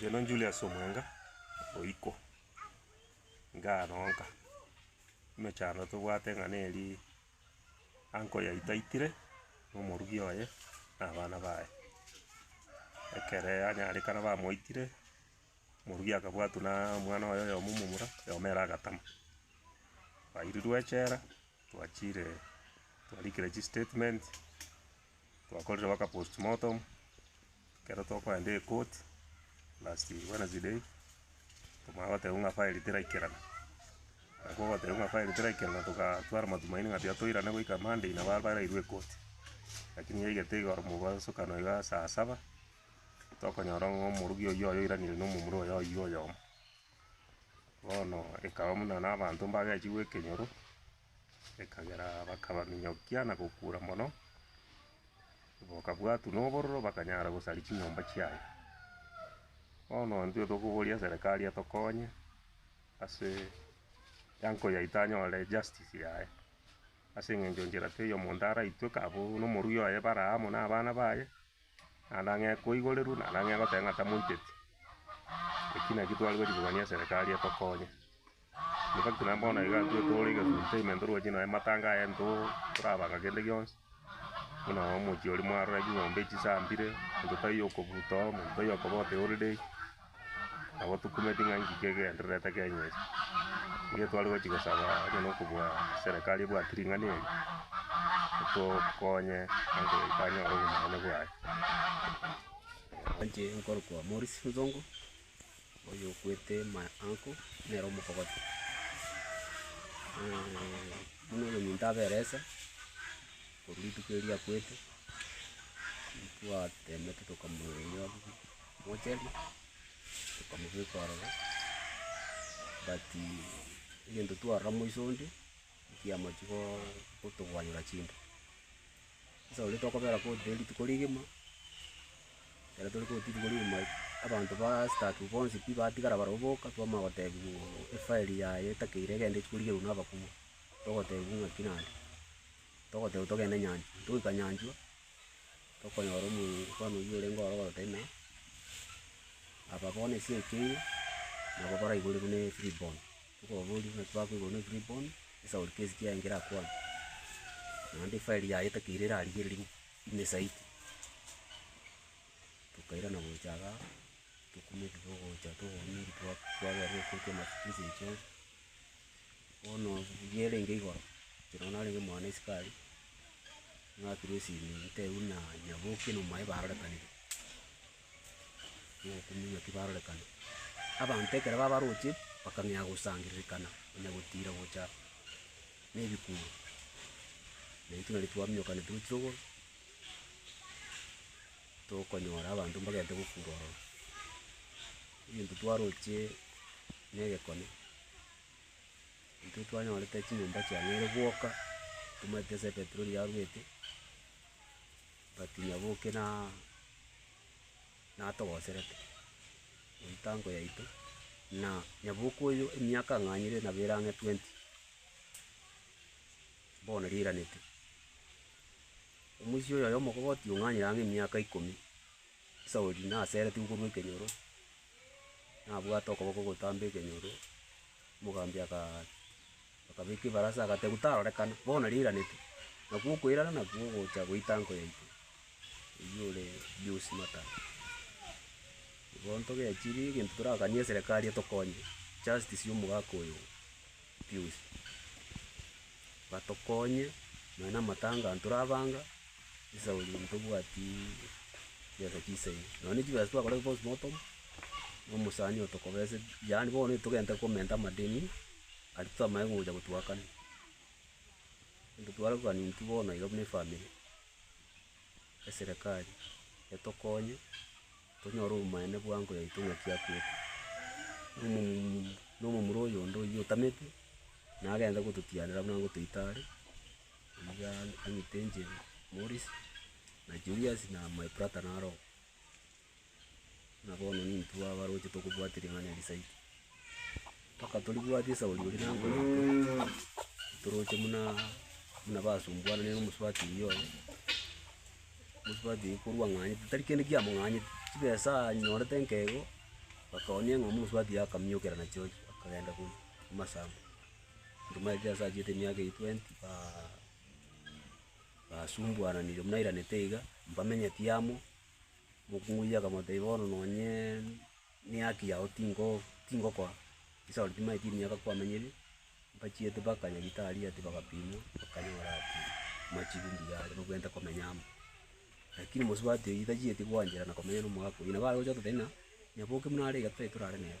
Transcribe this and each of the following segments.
Ngeno Julius Omwenga oiko ngaroka emechando tobwate ng'a neri uncle yaito aitire na omorugi oye na abana baye. Ekere anyarekana bamoitire. Moruya akabwatwa na omwana oye oyomo omomura, oyomo ere agatama. Twairirwe echela, twachire twarikire chistatement, twakorire mpaka postmortem, ekero tokoenda ekoti last wednesday, okonya goteba ng'a file teraikerana. Nabo ogoteba ng'a file teraikerana togatwara matumaini ng'a tiga toirane goika monday nabo abarairwe ekoti. Lakini yaigete igoro mobosokano igaa saa saba. tokonyora ng'a omorokia oyio oiraneire na omomura oye oyio oyomo. Bono ekaba buna nabanto mbagechigwa ekenyoro, ekagera bakabaminyokia na gokura mono, bakabwatwa na obororo bakanyara gosaria chinyomba chiaye. Bono intwe tokoboria eserekari etokonye ase yango yaito anyore justice yaye, ase eng'encho nchera teiyo omonto araitwe kabu na omorwia oye bare amo na abana baye. Naende ang'e koigorerwa, naende ang'e goteba ng'a tamoiteti. Eki nakio tware gochia kogania eserekari etokonye. In fact naende bono iga intwe tore egesu entertainment oroche nonya matanga aya intwe torabanga kende gionsi, buna omochie oria mwarora ching'ombe echisambire, omonto taiyo okobuta oo, omonto taiyo okobota eholiday. Nabo tokumeti ng'a inki kegendererete Kenya eye. Nigo tware gochi gosaba onye na okobua serekari ebwate ring'ana eri, etokonye ninki tokonyora obonene bwaye. Inche nkorokwa Morris Nsonko, oyo okwete my uncle, nere omokogoti. buna oyominto aberesa, korwa rituko erio akwete, intwatemete tokamoeria. Mocheria, okamobeka ororo, but egento twarora moiso onde, ekiamachia go- gotogwanyera chinda. Sasa oria tokobera koti rende rituko rigima, ekero tore koti rituko rigima, abanto ba staff bonsi pi batigara barobwo boka, twamanya gotebiwa ng'a efile yaye etakeire egende echia korigerwa na abakubwa, togotebiwa ng'aki nande, togotebiwa togende nyanchwa. Togoika nyanchwa. tokonyora omofano oyio orenge ororo totari na, aba bono ase ekeire, nabo baraigorwe buna efree born, tokobaboria ngaki bakoigorwa buna efree born, esauri kesi ki aye nkerakwane, naende efairi yaye etakeire erarigereri bu- ime zaidi. Tokairana gocha igaa, tokumia ebibe gocha tokoumia ebi twa- twaberire goika amatuko ase echo. Bono rigiya erenge igoro, inche nabo narenge omwana isiko aria, ng'akerwa esimi ntebiwa buna Nyaboki na omoyo barorekanire, omokumia ng'aki barorekana. Abanto ekero babaroche, bakang'ea gosangererekana, onye gotira gocha na ebikuuru, na intwe nari twaminyokanete gochia rogoro, tokonyora abanto mbagente gokura ororo. Egento twaroche na egekone, intwe twanyorete chinyomba chia nere gwoka, tomaete ase epetroli yarurete, but nyaboke na natogoserete, emitango yaito, na nyaboke oyo emiaka ang'anyire nabo ere ang'e twenty, bono riranete. Omoisia oyoyomokogoti ong'anyire ang'e emiaka ikomi. Sauli naseretigwe korwa ekenyoro, nabwate okoboko gotamba ekenyoro, omogambi akaa akabeka ebarasa agatebiwa tarorekana, bono riraneti, nakwo okoirana nakwo ogocha goita nko yaito, oywo ore Pius Matara. Igo ntogechiri egento torakanie eserekari etokonye, justice ya omogaka oyo. biosi. Batokonye nonya namatanga aya torabanga, esauri ntobwati chibesa chisaine, nonya ne chibesa twakora postmortem, na omosani oyo tokobesa, yaani bono etogenta komenta amadeni aria twamanye komocha gotuakana. Ntwe twarakani intwe bono iga buna efamiri, eserekari etokonye. tonyore obomanene bwango yaito ng'aki akwete. Omomura na omomura oyonde oyio otamete, naye agenda gototianera buna gotoita are, niga ang'ite inche Morris, na Julius, na my brother naro oo. Buna bono nintwe abaroche tokobwati ring'ana eri zaidi. Mpaka toribwate esauri oria na nkoro ake, toroche buna buna basumbuanire na omosubati oyio oye. Omosubati oyio korwa ang'anyete tari kende kiamong'anyete, chibesa anyorete nkego, akaoonia eng'ombe omosubati oyio akamiokera nachiochi akagenda korwa amasabo. Nduma eria ase achiete emiaka eyio twenty ba basumbuananire buna airanete iga, mbamenyeti amo, mokong'u oyio akamotebia bono nonyeee. Neaki yao tingo tingokoa chisaro chimaye chimiaka kwamenyire, mbachiete mpaka nyagetari ati bagapimwa, bakanyora ati machigu mbuya are nobwenerete komenya amo. Lakini omosubati oyio tachieti gwanchera na komenya na omogaka oyio, nabo arogocha ototeba ng'a nyaboke buna are iga totari torare nere.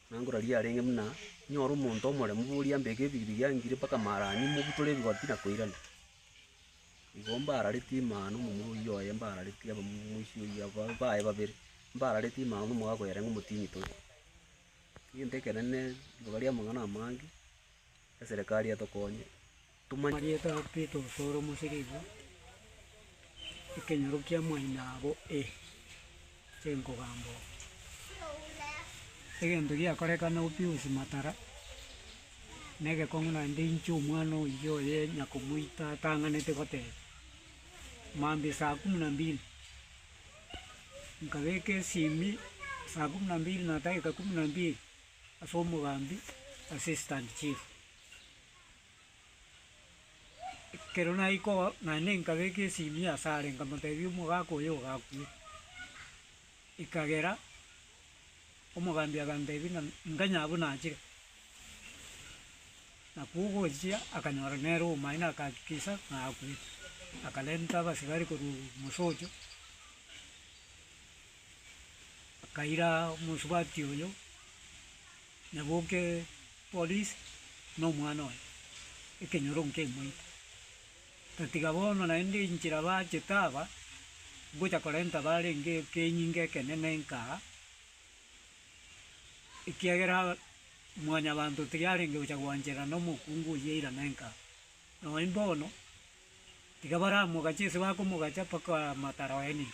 Nangora riria yarenge buna inyore omonto omoremu, boria mbeke ebigibigi angire mpaka Maharani, mbotore ebigoti na koirana. Igo mbaararetie imana na omomura oyio oye mbaararetie abamoisia oyio abwo baye babere, mbaararetie imana na omogago oye yarenge omotienyi tore. Egento ekenene, riroba ri'amang'ana amange, eserekari etokonye. Omanyete ng'a Petero ore omosike igo, ekenyoro kia mwainaabo ee, enkogamba oo. Egento giakorekana oo Pius Matara, na egekong'u naende inche omwana oyio oye nyakomoita atang'anete goteba, maambia saa kumi na mbili, nkabeka esimi saa kumi na mbili na dageka kumi na mbili ase omogambi assistant chief. Ekero naika oo, naende nkabeka esimia asare, nkamoteebia omogaka oyo ogakwe. Ekagera omogambi aganteebia ng'a nkanyaa abwo nachire. Nakwo ogochia akanyora nere omomaino akahakikisha ng'a akwete. Akarenta abasigari korwa mosocho, bakaira omosubati oyo. Na boke Polis na omwana oye ekenyoro nkemoite, tatiga bono naende inchera baachete aba ngocha korenta barenge ekenyinga ekenene nka aa, ekiagera Mwanyabaanto tiyarenge gocha gwanchera nomokungu oyio eirana nka aa. Nonye bono, tiga baramogache ase bakomogacha mpaka matara oenire.